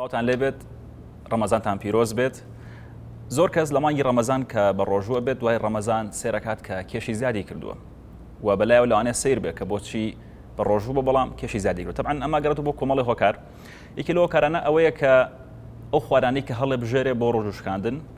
سڵاوتان لێبێت ڕەمەزانتان پیرۆز بێت زۆر کەس لە مانگی ڕەمەزان کە بە ڕۆژووە بێت دوای ڕەمەزان سێرەکات کە کێشی زیادی کردووە و بەلایەوە لەوانێ سیر بێت کە بۆچی بە ڕۆژوو بە بەڵام کێشی زیادی کرد تەبعەن ئەمە گەڕێت بۆ کۆمەڵی هۆکار یەکی لەوە کارانە ئەوەیە کە ئەو خوارانی کە هەڵێ بژێرێ بۆ ڕۆژوشکاندن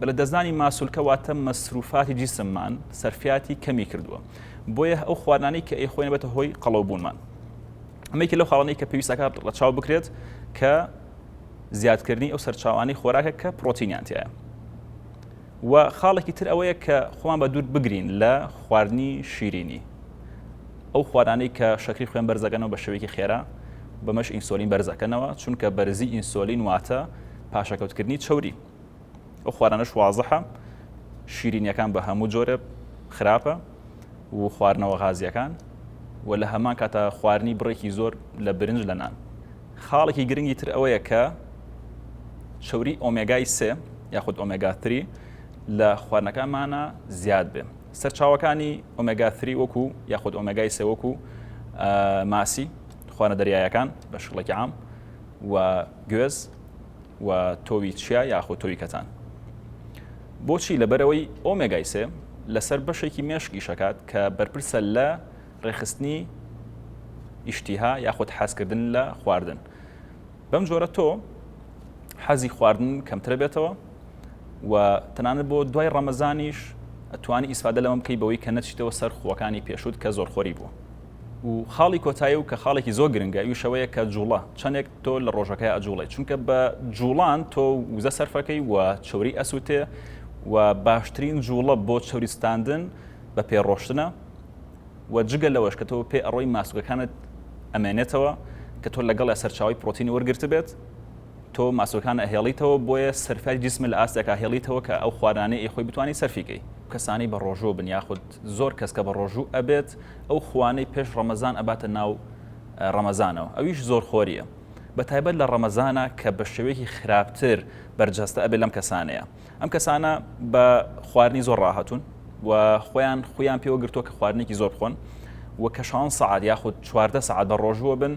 بە لەدەستدانی ماسولکە واتە مەسروفاتی جیسممان سەرفیاتی کەمی کردووە بۆیە ئەو خواردنانەی کە ئەیخۆین بێتە هۆی قەڵەوبوونمان ئەمەیەکی لەو خاڵانەی کە پێویستەکە ڕەچاو بکرێت کە زیادکردنی ئەو سەرچاوانی خۆراکە کە پرۆتینیانتیایە و خاڵێکی تر ئەوەیە کە خۆمان بە دوور بگرین لە خواردنی شیرینی ئەو خوارانەی کە شەکری خوێن بەرزەکەنەوە بە شێوەیەکی خێرا بەمەش ئینسۆلین بەرزەکەنەوە چونکە بەرزی ئینسۆلین واتە پاشەکەوتکردنی چوری ئەو خوارانەش وازحە شیرینیەکان بە هەموو جۆرە خراپە و خواردنەوە غازیەکان و لە هەمان کاتە خواردنی بڕێکی زۆر لە برنج لە نان خاڵێکی گرنگی تر ئەوەیە کە چوری ئۆمێگای سێ یاخود ئۆمێگاتری لە خوارنەکانمانە زیاد بێ سەرچاوەکانی ئۆمێگاتری وەکو یاخود ئۆمێگای سێ وەکو ماسی خوانە دەریایەکان بە شڵێکی عام و گوێز و تۆوی چیا یاخود تۆوی کەتان بۆچی لەبەرەوەی ئۆمێگای سێ لەسەر بەشێکی مێشک ئیشەکات کە بەرپرسە لە ڕێخستنی ئیشتیها یاخود حەزکردن لە خواردن بەم جۆرە تۆ حەزی خواردن کەمترە بێتەوە و تەنانەت بۆ دوای ڕەمەزانیش ئەتوانی ئیسفادە لەمە بکەی بەوەی کە نەچیتەوە سەر خوەکانی پێشوت کە زۆر خۆری بوو و خاڵی کۆتایی و کە خاڵێکی زۆر گرنگە ئیوش ئەوەیە کە جوڵە چەندێک تۆ لە ڕۆژەکەی ئەجوڵێ چونکە بە جوڵان تۆ وزە سەرفەکەی و چوری ئەسوتێ و باشترین جوڵە بۆ چوری ستاندن بە پێ ڕۆشتنە و جگە لەوەش کە تۆ پێ ئەڕۆی ماسوگەکانت ئەمێنێتەوە کە تۆ لەگەڵ سەرچاوی پرۆتینی وەرگرت بێت تۆ ماسوەکان ئەهێڵیتەوە بۆیە سەرفای جسم لە ئاستێکا هێڵیتەوە کە ئەو خوارانەی خۆی بتانی سەرفیکەی کەسانی بە ڕۆژوو بن یاخود زۆر کەس کە بە ڕۆژوو ئەبێت ئەو خوانەی پێش ڕەمەزان ئەباتە ناو ڕەمەزانەوە ئەویش زۆر خۆریە بە تایبەت لە ڕەمەزانە کە بە شێوەیەکی خراپتر بەرجەستە ئەبێت لەم کەسانەیە ئەم کەسانە بە خواردنی زۆر ڕاهاتون و خۆیان خۆیان پێوە گرتووە کە خواردنێکی زۆر بخۆن و کەشان سعات یاخود چواردە سعات بە ڕۆژووە بن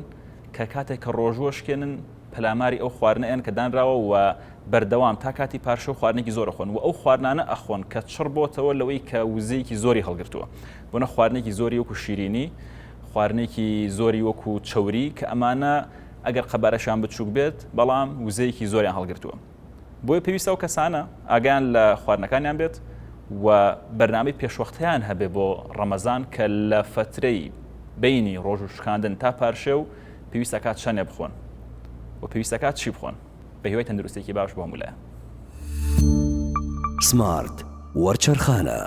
کە کاتێک کە ڕۆژووە شکێنن پەلاماری ئەو خواردنەیان کە دانراوە و بەردەوام تا کاتی پارشە و خواردنێکی زۆر خۆن و ئەو خواردانە ئەخۆن کە چڕ بۆتەوە لەوەی کە وزەیەکی زۆری هەڵگرتووە بۆنە خواردنێکی زۆری وەکو شیرینی خواردنێکی زۆری وەکو چوری کە ئەمانە ئەگەر قەبارەشان بچووک بێت بەڵام وزەیەکی زۆریان هەڵگرتووە بۆیە پێویستە و کەسانە ئاگیان لە خواردنەکانیان بێت و بەرنامەی پێشوەختیان هەبێ بۆ ڕەمەزان کە لە فترەی بینی ڕۆژ و شکاندن تا پارشێ و پێویستەکات چەنێ بخۆن و پێویستەکات چی بخۆن بە هیوای تەندروستێکی باش بۆ مولە سمارت وەرچەرخانە